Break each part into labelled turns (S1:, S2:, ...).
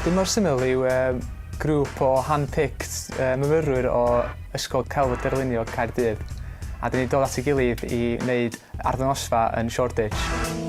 S1: Dymor Syml yw grŵp o hand-picked myfyrwyr o Ysgol Celf Darlunio Caerdydd a dyn ni'n dod at ei gilydd i wneud arddangosfa yn Shoreditch.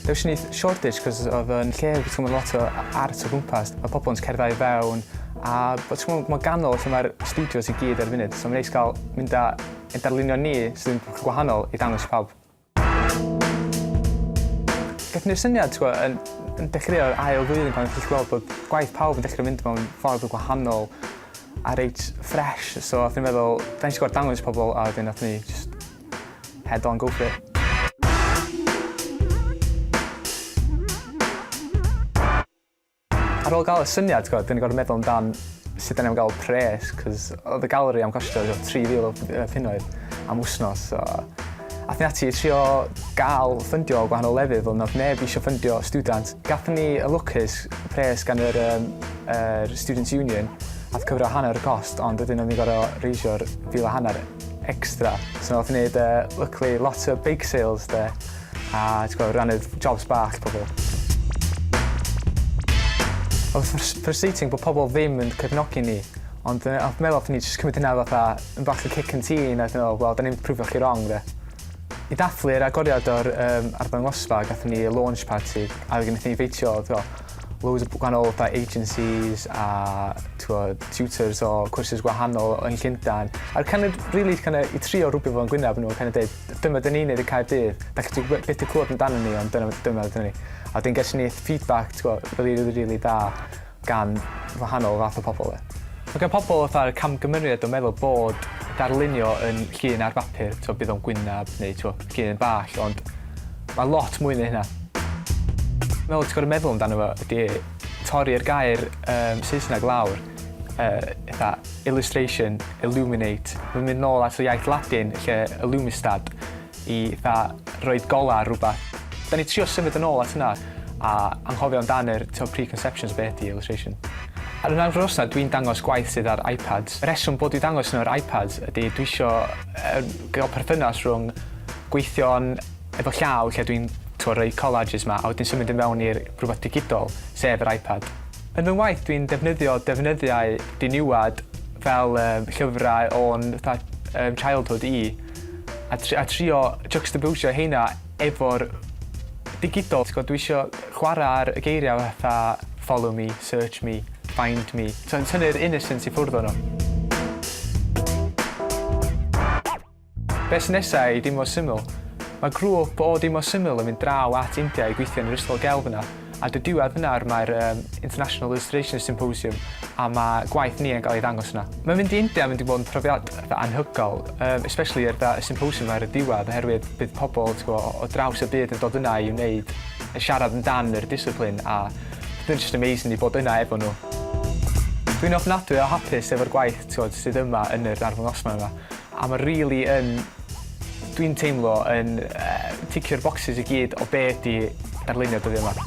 S1: Does dim shortage cos oedd yn lle oedd ti'n gwybod lot o art o gwmpas, mae pobl yn cerddau i fewn a bod ti'n gwybod mae'n ganol lle mae'r studios i gyd ar y funud, so mae'n neis cael mynd â ein darlunio ni sy'n gwahanol i dangos i pawb. Gath ni'r syniad ti'n gwybod, yn, yn dechreuo'r ail flwyddyn pan ydych chi'n gweld bod gwaith pawb yn dechrau mynd mewn ffordd o gwahanol a reit ffres, so oedd ni'n meddwl, da ni'n gwybod dangos i pobl a wedyn oedd ni just Head on, go for it. Ar ôl gael y syniad, ti'n gwybod, dyn ni'n gorfod meddwl amdan sut da ni'n gael pres, cos oedd y galeri am costio 3,000 o punnoedd am wsnos. So, a thyn ati trio gael ffyndio o gwahanol lefydd, ond oedd neb eisiau ffyndio student. Gathen ni y lwcus pres gan yr, um, yr Students' Union, a cyfro hanner y cost, ond ydyn nhw'n gorau reisio'r fil a hanner. extra. So nath ni neud yy lwcli lot o bake sales 'de a t'gwo' rannu jobs bach pobol. O'dd o'n ffrus- frustrating bo' pobol ddim yn cefnogi ni ond yy o'dd meddwl allen ni jyst cymryd hynna fatha yn bach o cic yn tîn a wedyn me'wl wel 'dan ni'm 'di prwfio chi rong 'de? I dathlu'r agoriad o'r yym arddangosfa gathon ni launch party a fe- fe- nethon ni feintio t'wo' loads o gwahanol fatha agencies a t'wod tutors o cwrsus gwahanol yn Llundan a'r kind of rili kind of i trio rwbio fo'n gwynab nhw a kind of deud dyma dyn ni'n neud y Caerdydd dach chi byth 'di clywed amdanyn ni ond dyna dyma ydyn ni. A wedyn ges ni feedback t'go' rili rili rili da gan wahanol fath o pobol 'de. Ma' gan pobol fatha'r camgymeriad o meddwl bod darlunio yn llun ar bapur t'o' bydd o'n gwynab neu t'o' llun bach ond Mae lot mwy na hynna. Meddwl ti'n gorfod meddwl amdano fo ydy torri'r gair um, Saesneg lawr, uh, illustration, illuminate, mae'n mynd nôl at y iaith Latin lle illumistad i dda roed gola rhywbeth. Da ni trio symud yn ôl at hynna a anghofio amdan yr to preconceptions beth di illustration. Ar yna'r fros na, dwi'n dangos gwaith sydd ar iPads. Y reswm bod i dangos nhw ar iPads ydy dwi eisiau uh, gael perthynas rhwng gweithio yn efo llaw lle dwi'n t'wo' rhoi collages 'ma a wedyn symud i mewn i'r rwbath digidol, sef yr iPad. Yn fy ngwaith dwi'n defnyddio defnyddiau diniwad fel yym llyfrau o'n fatha yym childhood i a tr- a trio jycstabowsio heina efo'r digidol t'gwod dwi isio chwara' ar y geiria' fatha follow me, search me, find me t'o' yn tynnu'r innocence i ffwrdd o nw. Be sy'n nesa i Dimo Syml? Mae grŵp o Dimo Syml yn mynd draw at India i gweithio yn yr ysgol gelf yna, a dy diwedd yna mae'r um, International Illustration Symposium a mae gwaith ni yn cael ei ddangos yna. Mae mynd i India yn mynd i fod yn profiad dda anhygol, um, especially er y symposium ar y diwedd, oherwydd bydd pobl tgo, o draws y byd yn dod yna i wneud, yn siarad amdan yr disciplin, a bydd just amazing i bod yna efo nhw. Dwi'n ofnadwy o hapus efo'r gwaith tgod, sydd yma yn yr arddangosfa yma. A mae rili yn, dwi'n teimlo, yn yy ticio'r bocsys i gyd o be' ydi darlunio dyddia 'ma.